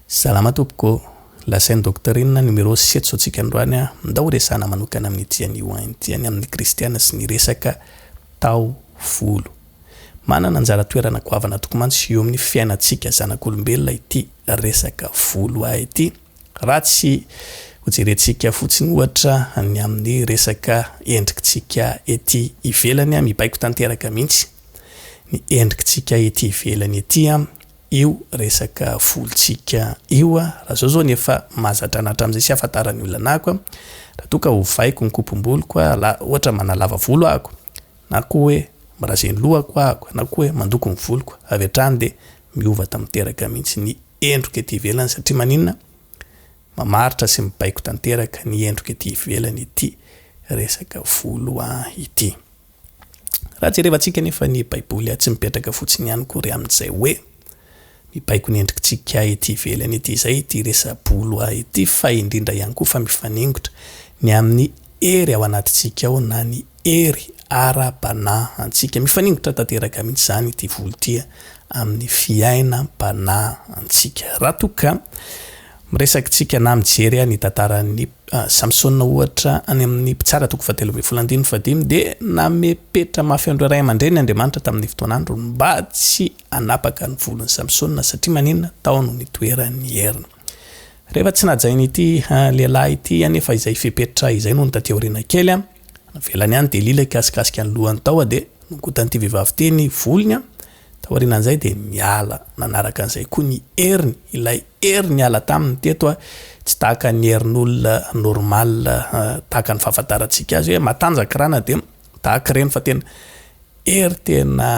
Salama tompoko, lasain'i Docteur inona numéro setso antsika androany a, ndao resahana manokana amin'ny ity anio an ity an amin'ny kristiana sy ny resaka taovolo. Manana anjara toerana goavana tokoa mantsy eo amin'ny fiainantsika zanak'olombelona ity resaka volo a ity raha tsy hojerentsika fotsiny ohatra ny amin'ny resaka endrikintsika ety ivelany a, mibaiko tanteraka mihitsy ny endrikintsika ety ivelany ety an. io resaka volontsika io a! Raha zao zao ny efa mahazatra anah hatramin'izay tsy ahafantaran'ny olona anah ko a! Raha toa ka ovaiko ny kopom-boloko a! La ohatra manalava volo aho ko! Na koa hoe mirazy ny lohako aho ko! Na koa hoe mandoko ny voloko! Avy hatrany dia miova tanteraka mihitsy ny endriko ety ivelany satria maninona? Mamaritra sy mibaiko tanteraka ny endriko ety ivelany ity resaka volo ity. Raha jerevantsika anefa ny Baiboly dia tsy mipetraka fotsiny ihany akory amin'izay hoe mibaiko ny endritsika ety ivelany ety izay ity resa-bolo ity fa indrindra ihany koa fa mifaningotra ny amin'ny hery ao anatintsika ao na ny hery ara-panahantsika. Mifaningotra tanteraka mihitsy izany ity volo ity amin'ny fiainam-panahantsika. Raha toa ka Miresaky tsika na mijery ahy ny tantaran'i Samsona ohatra any amin'ny Mpitsara toko fahatelo ambin'ny folo andininy fahadimy dia nanome petra mafy an'ireo ray aman-dreniny Andriamanitra tamin'ny fotoan'andro mba tsy hanapaka ny volon'i Samsona satria maninona? tao no nitoeran'ny heriny. Rehefa tsy nahajain'ity lehilahy ity anefa izay fepetra izay nony taty aoriana kely an! navelany any dia lila hikasikasika ny lohany tao dia nongotan'ity vehivavy ity ny volony an! Taorianan'izay dia miala nanaraka an'izay koa ny heriny, ilay hery niala taminy teto tsy tahaka ny herin'olona normal tahaka ny fahafantarantsika azy hoe matanjaka ra na dia tahaka ireny fa tena hery tena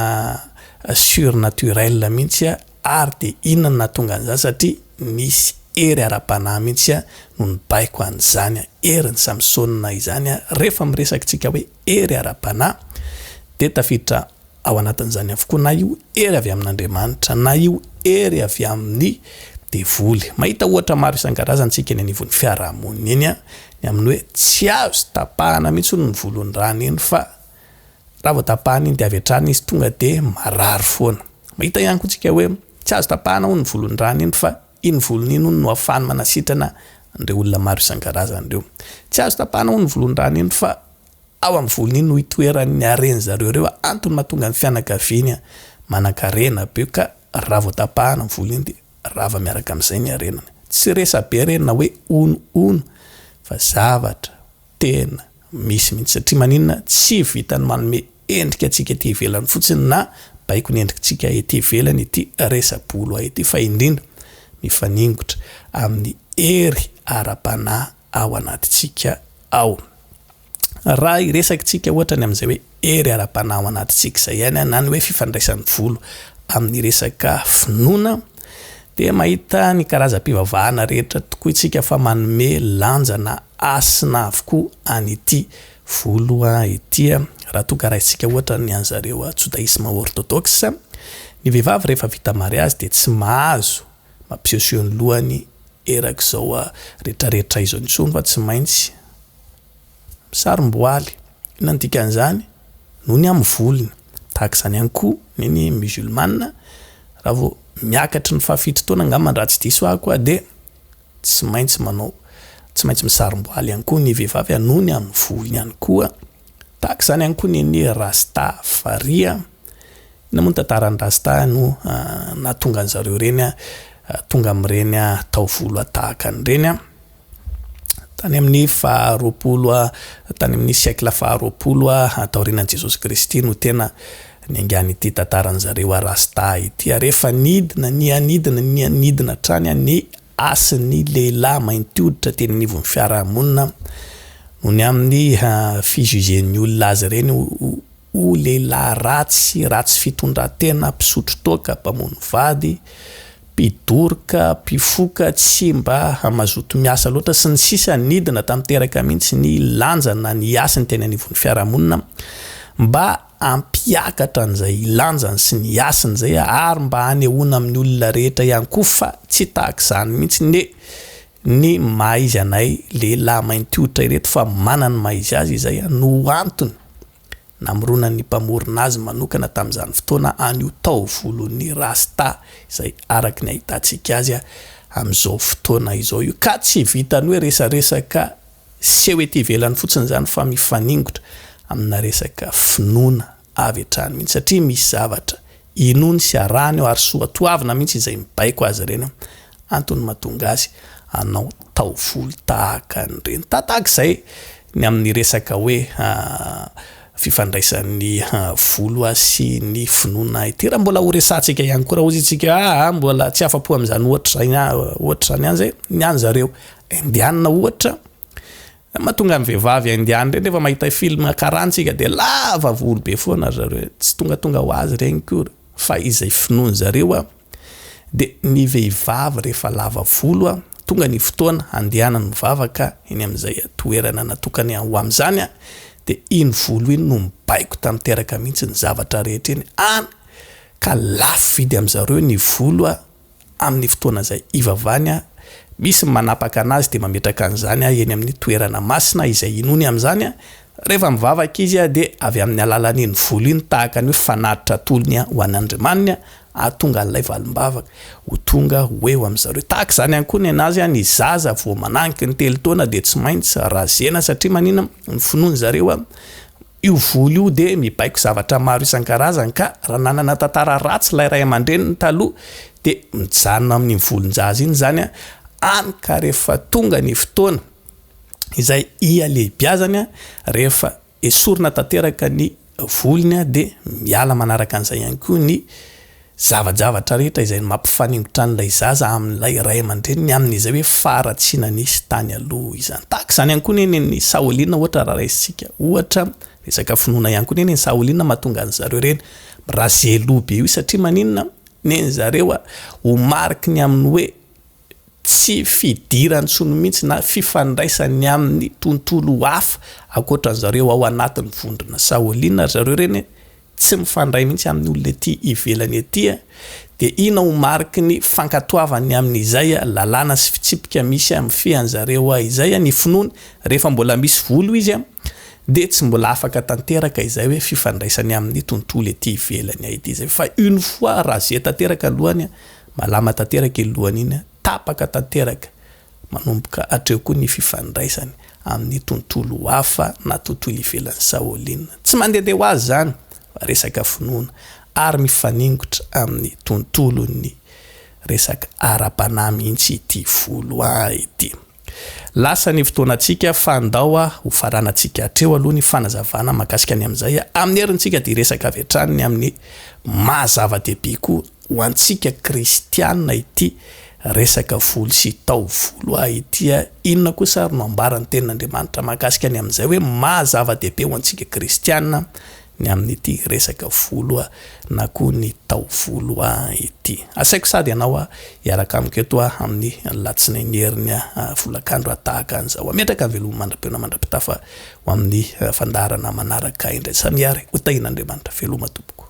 surnaturel mihitsy ary dia inona no nahatonga an'izany satria nisy hery ara-panahy mihitsy no nibaiko an'izany herin'i Samsona izany rehefa miresaka tsika hoe hery ara-panahy, dia tafiditra ao anatin'izany avokoa na io hery avy amin'Andriamanitra na io hery avy amin'ny devoly. Mahita ohatra maro isan-karazany isika eny anivon'ny fiarahamonina eny, ny amin'ny hoe tsy azo tapahana mihitsy hono ny volon'ny rany iny fa raha vao tapahana iny dia avy hatrany izy tonga dia marary foana. Mahita ihany koa isika hoe tsy azo tapahana hono ny volon'ny rany iny fa Iny volony iny hono no afahany manasitrana an'ireo olona maro isan-karazany ireo. Tsy azo tapahana hono volon-drano iny fa ao amin'ny volony iny no itoeran'ny haren'ny zareo ireo antony mahatonga ny fianakaviany manan-karena be ka raha vao tapahana ny volo iny dia rava miaraka amin'izay ny harenany. Tsy resa-be re na hoe hono hono fa zavatra Tena misy mihitsy satria maninona tsy vitan'ny manome endrika antsika ety ivelany fotsiny na baikony endrikitsika ety ivelany ity resa-bola ity fa indrindra mifaningotra amin'ny hery ara-panahy ao anatintsika ao. Raha hiresaka tsika ohatra ny amin'izay hoe. hery ara-panahy ao anatintsika izay ihany na ny hoe fifandraisan'ny volo amin'ny resaka finoana dia mahita ny karazam-pivavahana rehetra tokoa isika fa manome lanjana hasina avokoa an'ity volo ity raha toa ka raisintsika ohatra ny an'ny zareo jodaisme orthodoxe ny vehivavy rehefa vita mariazy dia tsy mahazo mampisehoseho ny lohany erak'izao rehetrarehetra izao intsony fa tsy maintsy Misarom-boaly, inona no dikan'izany? Noho ny amin'ny volony. Tahaka izany ihany koa ny ny musulmana, raha vao miakatry ny fahafito taona angamba raha tsy diso ahy koa dia tsy maintsy manao, tsy maintsy misarom-boaly ihany koa ny vehivavy a, noho ny amin'ny volony ihany koa. Tahaka izany ihany koa ny ny rasta, farihy a. Inona moa ny tantaran'ny rasta no nahatonga an'izareo ireny tonga amin'ireny taovolo tahaka an'ireny a? tany amin'ny faha roapolo a, tany amin'ny siècle faha roapolo a taorianan'i Jesosy Kristy no tena niaingan'ity tantaran'ny zareo Arasta ity. Ary efa nidina, niha-nidina, niha-nidina hatrany a ny hasin'ny lehilahy mainty hoditra teny anivon'ny fiarahamonina noho ny amin'ny fi-juger-ny olona azy ireny ho, ho lehilahy ratsy sy ratsy fitondran-tena, mpisotro toaka, mpamono vady, mpidoroka, mpifoka, tsy mba mazoto miasa loatra, sy ny sisa Nidina tanteraka mihitsy ny lanja na ny hasiny teny anivon'ny fiarahamonina mba hampiakatra an'izay lanjany sy ny hasiny izay ary mba hanehoana amin'ny olona rehetra ihany koa fa tsy tahaka izany mihitsy ny ny maha izy anay lehilahy mainty hoditra ireto fa manana ny maha izy azy izay no antony namoronan'ny mpamorona azy manokana tamin'izany fotoana any io taovolon'ny rasta izay araka ny ahitantsika azy amin'izao fotoana izao io ka tsy vitan'ny hoe resaresaka seho ety ivelany fotsiny izany fa mifaningotra amina resaka finoana avy hatrany mihitsy satria misy zavatra inoany sy arahany ao ary soatoavina mihitsy izay mibaiko azy ireny antony mahatonga azy hanao taovolo tahaka an'ireny tahaka izay ny amin'ny resaka hoe fifandraisan'ny volo sy ny finoana ity raha mbola horesahantsika ihany koa raha hozy itsika ah mbola tsy afa-po amin'izany ohatra izany ohatra izany ihany izay ny an'zareo indianina ohatra Ny mahatonga ny vehivavy indiany ireny rehefa mahita film karantsika dia lava volo be foana ry zareo, tsy tongatonga ho azy ireny akory fa izay finoany zareo dia ny vehivavy rehefa lava volo tonga ny fotoana handehanany mivavaka eny amin'izay toerana natokany ho amin'izany dia iny volo iny no mibaiko tanteraka mihitsy ny zavatra rehetra eny any ka lafo vidy amin'izareo ny volo Amin'ny fotoana izay hivavahany aho, misy ny manapaka an'azy dia mametraka an'izany aho eny amin'ny toerana masina izay hinoany amin'izany, rehefa mivavaka izy dia avy amin'ny alalan'iny volo iny tahaka ny hoe fanatitra atolony ho an'Andriamaniny hahatonga an'ilay valim-bavaka ho tonga ho eo amin'i zareo. Tahaka izany ihany koa ny an'azy, ny zaza vao mananky ny telo taona dia tsy maintsy razena satria maninona? ny finoan'i zareo Io volo io dia mibaiko zavatra maro isan-karazany ka raha nanana tantara ratsy ilay ray aman-dreniny taloha dia mijanona amin'iny volon-jaza iny izany any ka rehefa tonga ny fotoana izay hialehibiazany rehefa esorina tanteraka ny volony dia miala manaraka an'izay ihany koa ny Zava-javatra rehetra izay mampifaningotran'ilay zaza amin'ilay ray aman-dreniny amin'izay hoe faharatsiana nisy tany aloha izany. Tahaka izany ihany koa ny nen'i Saolina ohatra raha raisintsika ohatra, resaka finoana ihany koa ny nen'i Saolina mahatonga an'i zareo ireny mirazeloa be io satria maninona? Nen'i zareo ho mariky ny amin'ny hoe tsy fidiran-tsonia mihitsy na fifandraisany amin'ny tontolo hafa ankoatra ny zareo ao anatin'ny vondrona Saoliana ry zareo ireny tsy mifandray mihitsy amin'ny olona ety ivelany ety dia ina ho mariky ny fankatoavany amin'izay lalàna sy fitsipika misy mifehy an'zareo izay ny finoany rehefa mbola misy volo izy dia tsy mbola afaka tanteraka izay hoe fifandraisany amin'ny tontolo ety ivelany ity izay fa une fois rasé tanteraka ny lohany malama tanteraka iny lohany iny tapaka tanteraka manomboka hatreo koa ny fifandraisany amin'ny tontolo hafa na tontolo ivelan'i Shaolin tsy mandehandeha ho azy izany fa resaka finoana ary mifaningotra amin'ny tontolon'ny resaka ara-panahy mihitsy ity volo ity Lasa ny fotoanantsika fa ndao a ho faranantsika hatreo aloha ny fanazavana mahakasika ny amin'izay amin'ny herintsika dia hiresaka avy hatrany ny amin'ny maha zava-dehibe koa ho antsika kristiana ity resaka volo sy taovolo a ity a! Inona kosa ary no ambaran'ny tenin'Andriamanitra mahakasika ny amin'izay hoe maha zava-dehibe ho antsika kristiana ny amin'ity resaka volo na koa ny taovolo ity. Asaiko sady ianao hiaraka amiko eto amin'ny Alatsinainy Heriny Volakandro tahaka an'izao. Ametraka veloma mandra-peo na mandra-pitafa ho amin'ny fandaharana manaraka indray. Sa mihary ho tahian'Andriamanitra? Veloma tompoko.